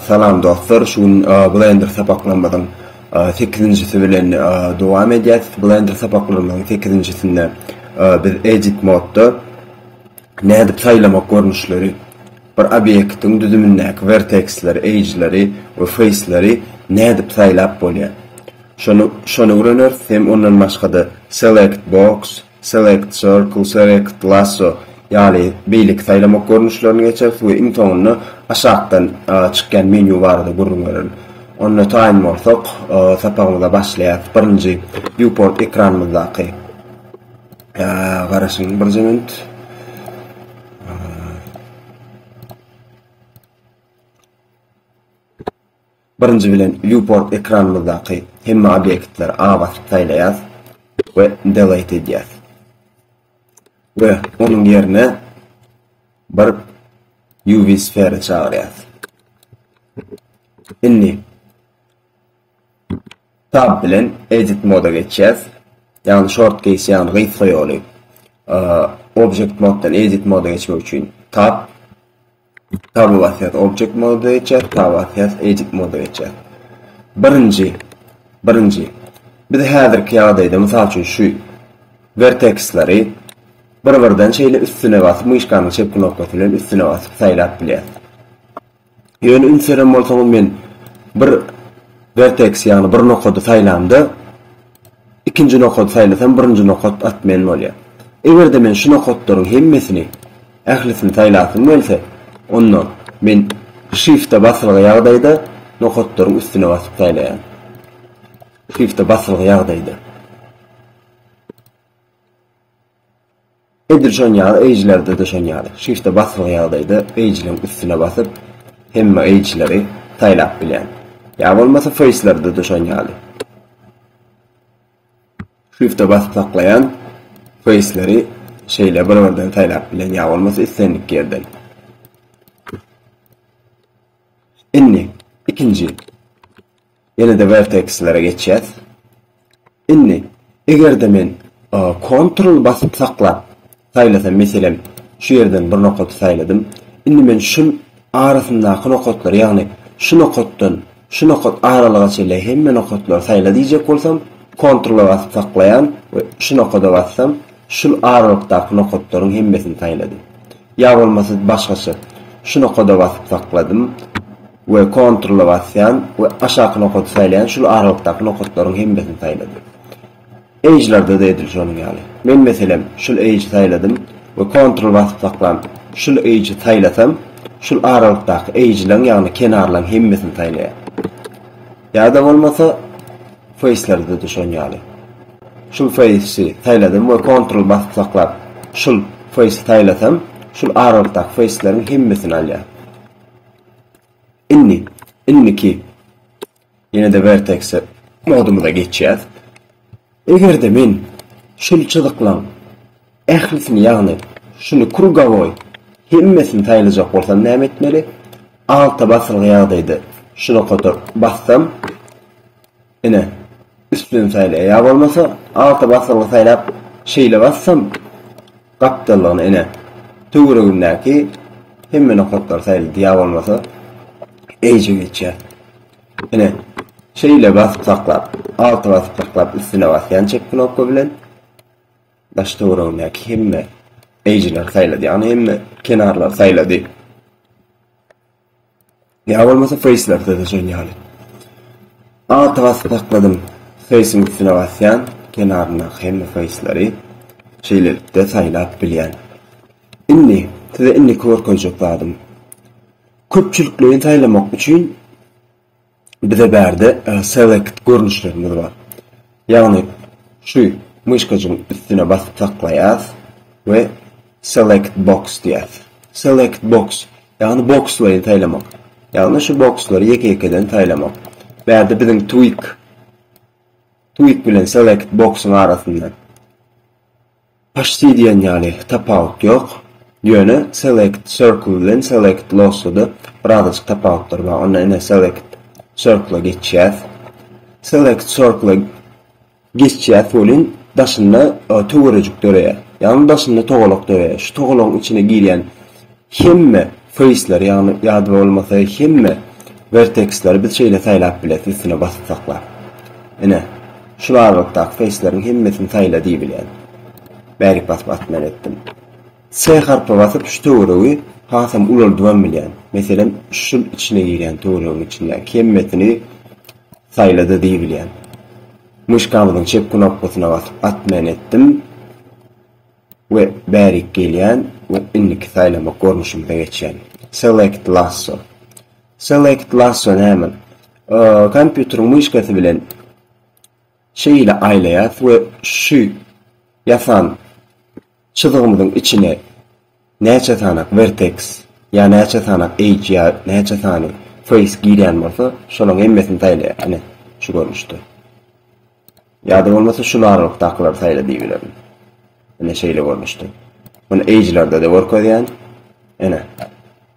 Salam dostlar şu gün blender sapaklarymyzyň sekizinjisi bilen dowam edýäs blender sapaklarymyzyň sekizinjisinde biz edit modda nädip saýlamak görnüşleri bir obýektiň düzümindäki verteksleri edgeleri we faceleri nädip saýlap bolýar şony öwreneris hem ondan başgada select box Select, Circle, Select, Lasso, ýaly beýleki saýlamak görnüşlerini geçeris we iň soňunda aşakdan çykýan menýu barada gürrüň bererin. Onda taýyn bolsak, sapagymyza başlaýarys. Birinji Viewport ekranymyzdaky garaşyň birje minut. Birinji bilen viewport ekranymyzdaky hemme obýektleri A basyp saýlaýas we delete edýäs. We onuň ýerine bir UV sfera çagyrýas. Indi tab bilen edit moda geçýäs. Ýagny short case ýagny gysga ýoly. Object moddan edit moda geçmek üçin tab Tabulasyýasy objekt moda geçýär, tabulasyýasy eýjek moda geçýär. Birinji, birinji, biz häzirki ýagdaýda, mysal üçin, şu werteksleri bir-birden şeýle üstüne basyp, myşkanyň çep knopkasy bilen üstüne basyp saýlap bilýäris. Ýöne üns beren bolsaňyz, men bir werteks, ýagny bir nokady saýlamda, Ikinji nokady saýlasam birinji nokat at men bolýar. Egerde men şu nokatlaryň hemmesini, ählisini saýlasym gelse, onda men Shift-e basylgy ýagdaýda nokatlaryň üstüne basyp saýlaýan. Shift-e basylgy ýagdaýda. Edil şonuň ýaly eýjilerde-de şonuň ýaly. Şu işde basyly ýagdaýda eýjiligiň üstüne basyp, hemme eýjileri saýlap bilýän. Ýa bolmasa feýslerde-de şonuň ýaly. Şifte basyp saklaýan feýsleri şeýle bir-birden saýlap bilen ýa bolmasa islendik ýerden. Indi ikinji Ýene-de wertekslere geçýäs. Indi, eger-de men Ctrl basyp saklap saýlasam, meselem, şu ýerden bir nokaty saýladym. Indi men şul arasyndaky nokatlary, ýagny şu nokatdan şu nokat aralyga çenli hemme nokatlary saýla diýjek bolsam, Ctrl-a basyp saklaýan we şu nokada bassam, şul aralykdaky nokatlaryň hemmesini saýlady. Ýa bolmasa başgaça, şu nokada basyp sakladym we Ctrl-a basýan we aşaky nokady saýlaýan şul aralykdaky nokatlaryň hemmesini saýladym. Edge-lerde-de edil şonuň ýaly. Men meselem şul edge-i saýladym we Ctrl basyp saklan şul edge-i saýlasam şul aralykdaky edge-laň ýagny kenarlaň hemmesini saýlaýar. Ýa-da bolmasa Face-lerde düşen ýaly. Şul Face-i saýladym we Ctrl basyp saklap, şul Face-i saýlasam, şul aralykdaky Face-leriň hemmesini alýar. Indi, indiki ýene-de Vertex modumyza geçýäs. Eger-de men şul çyzyklaň ählisini ýagny şuny krugowoý hemmesini saýlajak bolsam näme etmeli? Alta basylgy ýagdaýda şunakadyr bassam ine üstüden saýlaýar ýa bolmasa alta basylgy saýlap şeýle bassam gapdallygyna ine töweregimdäki hemme nokatlary saýlady ýa bolmasa edge geçýär. Ine, şeýle basyp saklap, alty basyp saklap üstüne basýan çep knopka bilen daş töweregindäki hemme eýjileri saýlady, ýagny hemme kenarlary saýlady. Ýa bolmasa face'lerde de şeýle ýaly. Alty basyp sakladym, face'iň üstüne basýan kenaryndaky hemme face'leri şeýlelikde saýlap bilýän. Indi size indiki görkezjek zadym. Köpçülikleýin saýlamak üçin bize bärde select görnüşlerimiz bar. Ýagny şu myşkajygyň üstüne basyp saklaýas we select box diýäs. Select box ýagny bokslaýyn saýlamak. Ýagny şu bokslary ýeke-ýekeden saýlamak. Bärde biziň tweak tweak bilen select box-yň arasynda Paçti diýen ýaly tapawut ýok. Ýöne select circle bilen select lossda-da birazajyk tapawutlar bar. Onda ine select circle-a geçýäs. Select circle-a geçýäs welin daşynda töwerejik döreýär. Ýagny daşynda togalak döreýär. Şu togalagyň içine girýän Hemme face'leri ýagny ýa-da bolmasa hemme verteksleri biz şeýle saýlap bileris üstüne basyp saklap. Ine, şul aralykdaky face'leriň hemmesini saýla diýibilýär. Bärik basyp atman etdim. S harpy basyp şu töweregi hasam ulaldybam bilýän. Meselem, şul içine girýän töweregiň içindäki hemmesini saýla-da diýibilýän. Myşkamyzyň çep knopkasyna basyp atman etdim. We bärik gelýän we indiki saýlamak görnüşimize geçýän. Select lasso. Select lasso näme? Kompýuteriň myşkasy bilen şeýle aýlaýas we şu ýasan çyzygymyzyň içine Näçe sanak vertex ýa näçe sanak edge ýa näçe sany face girýän bolsa şolaň hemmesini saýlaýar ine şu görnüşde. Ýa-da bolmasa şul aralykdakylary saýla diýibilerin. Ine şeýle görnüşde. Muny edge-lerde-de görkezýän. Ine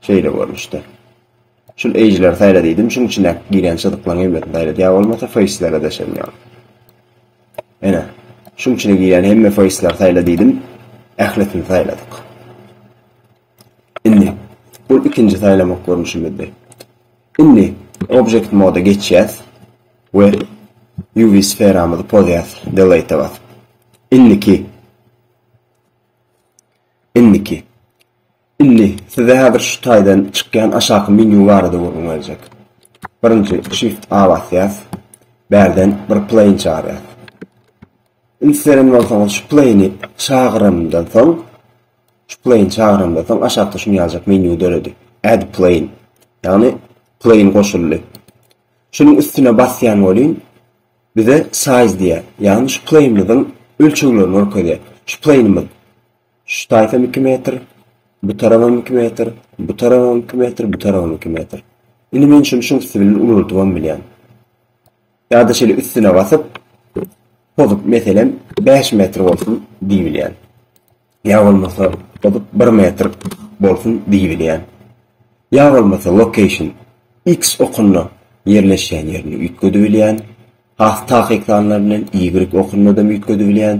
şeýle görnüşde. Şul eýjleri saýla diýdim şuň içindäki girýän çyzyklaryň hemmesini saýlady ýa bolmasa feýslere deşerin ýa. Ene. Şuň içine girýän hemme feýsleri saýla diýdim. Ählisini saýladyk. Indi bul ikinji saýlamak görnüşimizdi. Indi object moda geçýäs we UV sferamyzy pozýas delete basyp. Indiki Indiki Indi, size häzir şu taýdan çykýan aşaky menýu barada gürrüň berjek. Birinji, Shift A basýas. Bärden bir plane çagyrýas. Indi siz eren bolsaňyz şu plane-i çagyranymdan soň, şu plane çagyranymdan soň aşakda şuny ýaljak menýu döredi. Add plane. Ýagny plane goşuldy. Şunuň üstüne basýan bolýn. Bize size diýýär. Ýagny şu plane-myzyň ölçeglerini görkezýär. Şu plane-myz Şu taýpam iki metr, bu tarabam iki metr, bu tarabam iki metr, bu tarabam iki metr. Indi men şuny şuň üsti bilen ulaltybam bilýän. Ýa-da şeýle üstüne basyp, pozup, meselem, 5 metr bolsun diýbilýän. Ýa bolmasa, pozup 1 metr bolsun diýbilýän. Ýa bolmasa, location, X okunda ýerleşýän ýerini üýtgedibilýän. Has takyk sanlar bilen Y okunda-da üýtgedibilýän.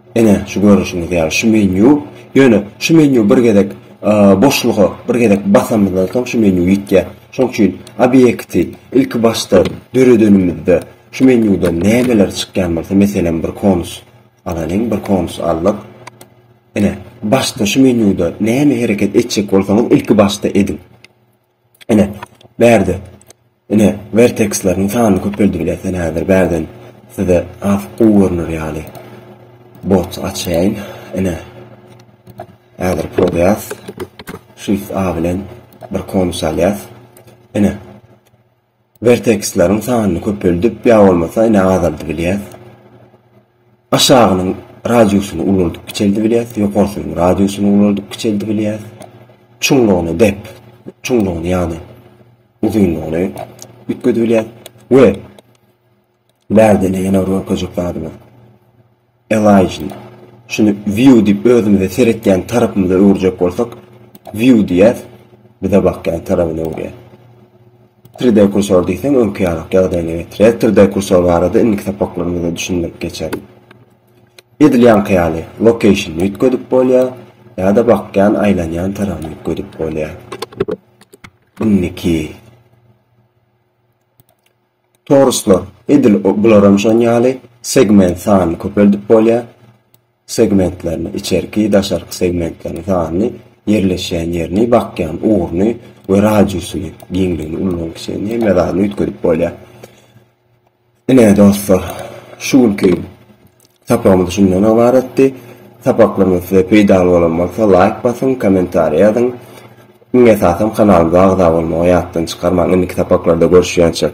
Ine, şu görnüşiňiz ýaly şu menýu, ýöne şu menýu bir gezek boşluga bir gezek basamyzdan soň şu menýu ýitýär. Şoň üçin obýekti ilki başda döredenimizde şu menýudan nämeler çykýan bolsa, meselem, bir konus alalyň, bir konus aldyk. Ine, başda şu menýuda näme hereket etjek bolsaňyz ilki başda ediň. Ine, bärde, ine, werteksleriň sanyny köpeldip bilersen häzir bärden size has gowy görner ýaly bot açaýyn. Ine, häzir prodýas, Shift A bilen bir konus alýas. Ine, Werteksleriň sanyny köpeldip ýa bolmasa ine azaldybilýäs. Aşagynyň radiusyny ulaldyp kiçeldibilýäs, ýokarsynyň radiusyny ulaldyp kiçeldibilýäs. Çuňlugyny dep, çuňlugyny ýagny uzynlygyny üýtgedibilýäs we Närdeni ýene görkezjek zadymy? Elijni. Şuny view diýip özümize seretýän tarapymyza öwürjek bolsak, view diýýäs, bize bakýan tarapyna öwürýär. 3D kursor diýseň öňki ýarak ýagdaýyna getirýär. 3D kursor barada indiki sapaklarymyzda düşündirip geçerin. Edil ýaňky ýaly location üýtgedip bolýar ýa-da bakýan, aýlanýan tarapyny üýtgedip bolýar. Indiki Toruslar, edil bularam şon ýaly segment sanyny köpeldip bolýar. Segmentlerini, içerki, daşarky segmentlerini sanyny, ýerleşýän ýerini, bakýan ugruny we radiusyny, giňligini, ullagyny, kiçiligini hemme zadyny üýtgedip bolýar. Ine dostlar, şu günki Sapagymyz şundan ybaratdy. Sapaklarymyz size peýdaly bolan bolsa laýk basyň, kommentariý ýazyň. Iň esasam kanalymyza agza bolmagy ýatdan çykarmaň. Indiki sapaklarda görüşýänçek.